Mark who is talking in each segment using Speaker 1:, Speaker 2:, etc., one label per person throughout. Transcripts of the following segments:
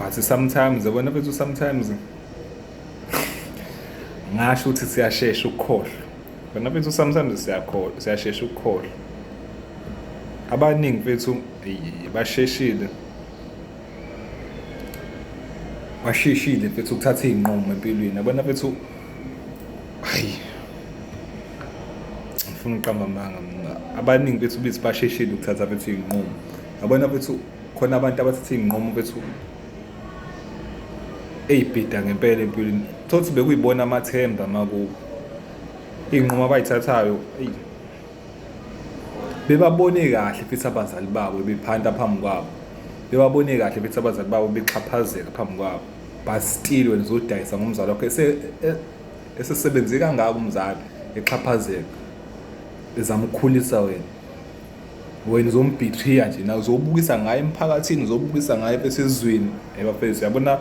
Speaker 1: but sometimes yabona bethu sometimes ngasho ukuthi siyashesha ukukhohlwa bona bethu sometimes siyakhohlwa siyashesha ukukhohlwa abaningi bethu basheshile basheshile bethu ukuthatha izinqumo empilweni abona bethu hayi ngifuna uqamba amanga abaningi bethu bithi basheshile ukuthatha bethu izinqumo abona bethu khona abantu abathatha iy'nqumo bethu eyibhida ngempela empilweni thothi bekuyibona amathemba makubo iy'nqumo abayithathayo eyi bebabone kahle futhi abazali babo bephanta phambi kwabo bebabone kahle futhi abazali babo bexhaphazeka phambi kwabo but still wena uzodayisa ngomzali wakho esesebenze kangaka umzali exhaphazeka ezama ukukhulisa wena wena uzombhithiya nje nawe uzobukisa ngaye emphakathini uzobukisa ngaye esizweni ebafethu yabona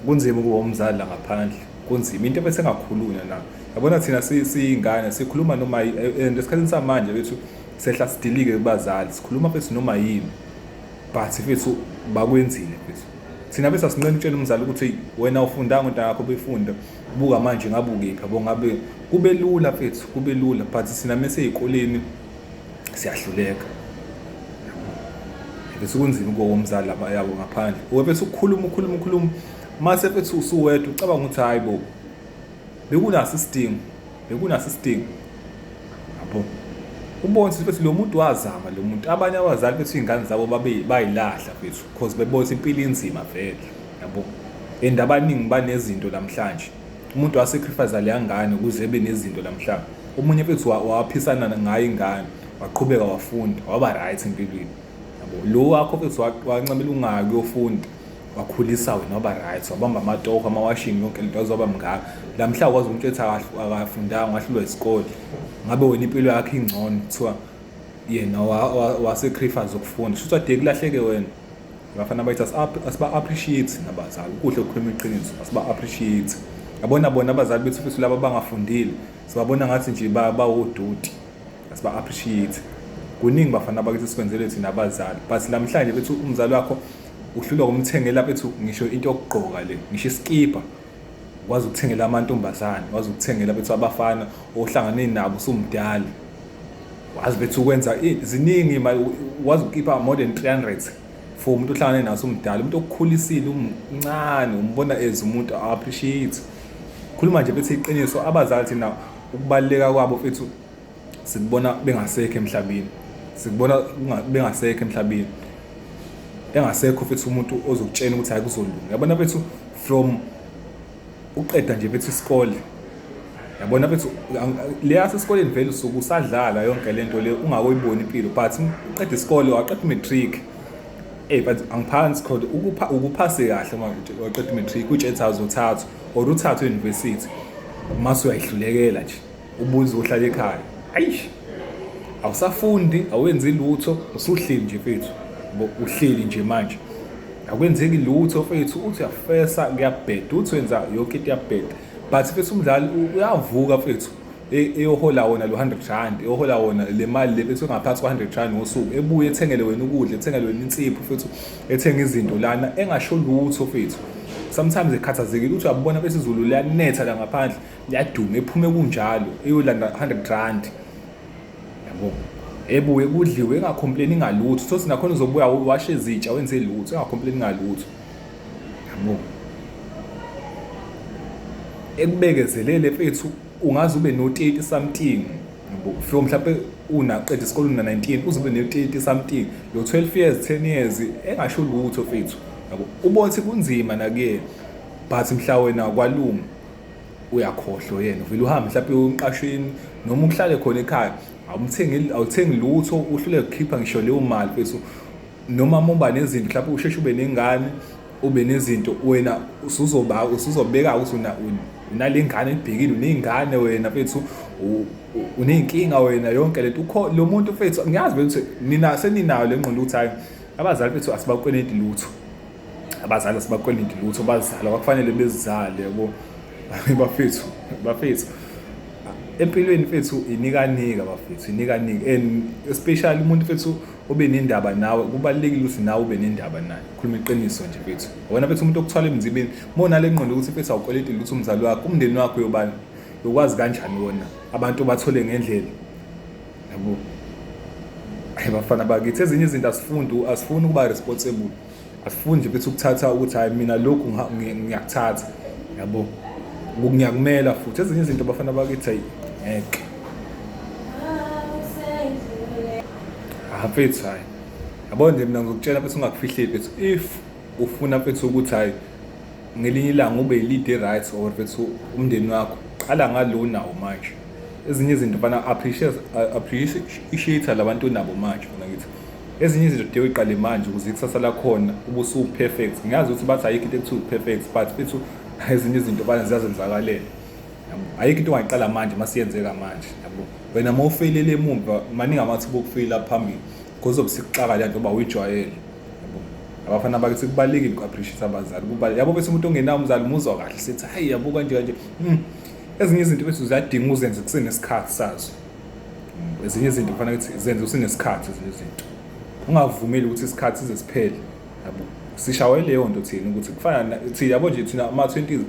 Speaker 1: kunzima ukuba umzali la ngaphandle kunzima into bese ngakhulunywa na yabona thina siyingane sikhuluma noma and esikhathini samanje bethu sehla sidilike kubazali sikhuluma bethu noma yini but fethu bakwenzile fethu thina bese asinqeni utshela umzali ukuthi wena ufundanga into yakho befunda buka manje ngabe ukephi yabo ngabe kube lula fethu kube lula but sina mese ezikoleni siyahluleka bese kunzima ukuba womzali laba yabo ngaphandle webese ukukhuluma ukhuluma ukhuluma mase bethi usuwedwa ucabanga ukuthi hayi bo bekunaso isidingo bekunaso isidingo yabo ubone ukuthi lo muntu wazama lo muntu abanye abazali bethu izingane zabo babe bayilahla bethu because bebona impilo inzima vele yabo and abaningi banezinto namhlanje umuntu wasacrifice leya ngane ukuze ebe nezinto namhlanje omunye futhi waphisana ngayo ingane waqhubeka wafunda waba right empilweni yabo lo wakho futhi wancamela ungayi kuyofunda wakhulisa wena waba right wabamba amatoho amawashini yonke lento azoba mngaka lamhla kwazi umuntu ethi akafundanga wahlulwa isikole ngabe wena impilo yakhe ingcono kuthiwa yena wasecrifice ukufunda shuthi ade kulahleke wena Abafana bathi asiba appreciate nabazali kuhle ukukhuluma iqiniso asiba appreciate yabona bona abazali bethu futhi laba bangafundile sibabona ngathi nje bawodoti asiba appreciate kuningi bafana bakithi sikwenzele thina abazali but namhlanje bethi umzali wakho uhlulwa kumthengela bethu ngisho into yokugqoka le ngisho iskipa wazi ukuthengela amantombazane wazi ukuthengela bethu abafana ohlangane nabo usumdala wazi bethu ukwenza ziningi wazi ukhipha more than 300 for umuntu ohlangane naso umdala umuntu okukhulisile umncane umbona as umuntu appreciate khuluma nje bethi iqiniso abazali thina ukubaleka kwabo fethu sikubona bengasekho emhlabeni sikubona bengasekho emhlabeni engasekho futhi umuntu ozokutshena ukuthi hayi kuzolunga yabona bethu from uqeda nje bethu isikole yabona bethu leya sesikoleni vele usuku usadlala yonke le nto le ungakoyiboni impilo but uqeda isikole waqeda i-matric ey but angiphansi khona ukuphase kahle uma waqeda i-matric utshetha zothathu or uthathu e-university mase uyayihlulekela nje ubuze uhlala ekhaya ayish awusafundi awenzi lutho usuhleli nje fethu uhleli nje manje akwenzeki lutho fethu uthi uyafesa kuyabheda uthi wenza yonke into yabheda but fethu umdlali uyavuka fethu e, eyohola wona lo 100 rand eyohola wona le mali le fethu engaphansi kwa 100 rand ngosuku ebuye ethengele wena ukudla ethengele wena insipho fethu ethenga izinto lana engasho lutho fethu sometimes ekhathazekile ukuthi uyabona besiZulu liyanetha la ngaphandle yaduma ephume kunjalo eyolanda 100 rand yabo ebuye kudliwe engacomplaini ngalutho so sinakhona uzobuya washe izitsha wenze lutho engacomplaini ngalutho yabo ekubekezelele mfethu ungaze ube no-30 something yabo from mhlawumpe unaqeda isikole una 19 uzobe ne-30 something lo 12 years 10 years engasho lutho mfethu yabo ubona ukuthi kunzima nakuyena but mhla wena kwalunga uyakhohlwa yena uvile uhambe mhlawumbe umqashini noma uhlale khona ekhaya awumthengi awuthengi lutho uhlule kukhipha ngisho leyo mali fethu noma muba nezinto mhlawumbe usheshe ube nengane ube nezinto wena usuzoba usuzobeka ukuthi una unalengane ebhekile unezingane wena fethu uneyinkinga wena yonke lento ukho lo muntu fethu ngiyazi ukuthi nina seninayo lengqondo ukuthi hayi abazali bethu asibakweleti lutho abazali sibakwelindi lutho bazala kwakufanele bezizale yabo bafethu bafethu empilweni fethu inikanika bafethu inikanika and especially umuntu fethu obe nendaba nawe kubalekile ukuthi nawe ube nendaba naye khuluma iqiniso nje fethu wena fethu umuntu okuthwala emzibeni mona le ngqondo ukuthi fethu awukweleti ukuthi umzali wakho umndeni wakho yobani yokwazi kanjani wona abantu bathole ngendlela yabo bafana bakithi ezinye izinto asifundi asifuni ukuba responsible asifuni nje bethi ukuthatha ukuthi hayi mina lokhu ngiyakuthatha yabo ngiyakumela futhi ezinye izinto bafana bakithi hayi ngeke hafethu hayi yabo nje mina ngizokutshela bese ungakufihleli bethu if ufuna bethu ukuthi hayi ngelinye ilanga ube lead right or bethu umndeni wakho qala ngalo nawo manje ezinye izinto fana appreciate appreciate labantu nabo manje fana ngithi ezinye izinto kude uyiqale manje ukuze ikusasa lakhona ubusu perfect ngiyazi ukuthi bathi ayikho into ekuthiwa perfect but fethu ezinye izinto bana ziyazenzakalela yabo ayikho into ongayiqala manje masiyenzeka manje yabo wena uma ufeyilele emumva maningi amathuba okufeyila phambili because obusikuxaka le nto uba uyijwayele yabo abafana bakithi kubalulekile uku-appreciate abazali kubalulekile yabo bese umuntu ongenawo umzali umuzwa kahle sethi hayi yabo kanje kanje Hmm. ezinye izinto bethu ziyadinga uzenze kusenesikhathi sazo ezinye izinto kufanele ukuthi zenze usenesikhathi ezinye izinto ungavumeli ukuthi isikhathi size siphele yabo sishawe leyo nto thina ukuthi kufana thina yabo nje thina ama 20s into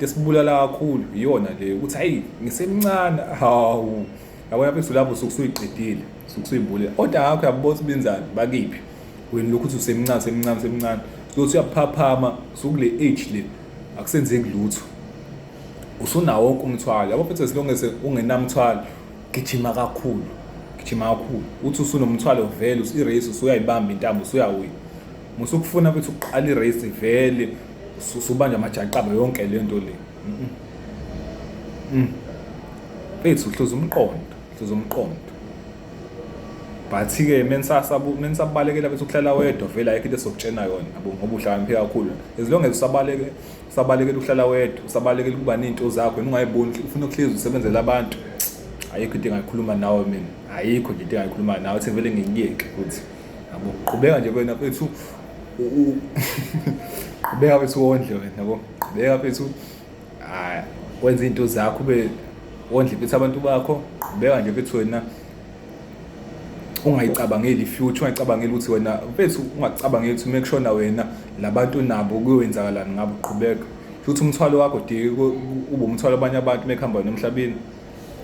Speaker 1: esibulala kakhulu iyona le ukuthi hayi ngisemncane hawu yabo lapho isulapho sokusuyiqedile sokusuyibule oda yakho yabona sibenzani bakiphi wena lokhu uthi usemncane semncane semncane sokuthi uyaphaphama sokule age le akusenzeki lutho usunawo wonke umthwalo yabo futhi as long as ungenamthwalo gijima kakhulu gijima kakhulu uthi usunomthwalo vele i-race usuyayibamba intambo usuyawina musukufuna futhi ukuqala i-race vele usubanja amajaqaba yonke le nto le mfethu mm. uhluza umqondo uhluza umqondo but-ke menisabalekela bethi ukuhlala wedwa vele ayikho into esokutshena yona yabo ngoba uhlakaniphile kakhulu as long as usabaleke usabalekela ukuhlala wedwa usabalekela ukuba ney'nto zakho yena ungayiboni ufuna ukuhlezi usebenzela abantu ayikho into engayikhuluma nawe mina ayikho nje into engayikhuluma nawe ukuthi ngivele ngiyeke futhi yabo qhubeka nje wena fethu qhubeka fethu wondle wena yabo qhubeka fethu wenza iy'nto zakho ube wondle fethu abantu bakho qhubeka nje fethu wena ungayicabangeli future ungayicabangeli ukuthi wena mfethu ungacabangeli ukuthi uma kushona wena labantu nabo kuyowenzakalani ngabo qhubeka futhi umthwalo wakho dike ube umthwalo abanye abantu mekuhamba nomhlabeni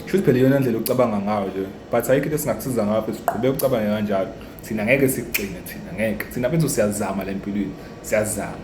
Speaker 1: shuthi phela iyona ndlela ocabanga ngayo nje but ayikho into singakusiza ngayo futhi siqhubeke ucabange kanjalo thina ngeke sikugcine thina ngeke thina bethu siyazama le mpilweni siyazama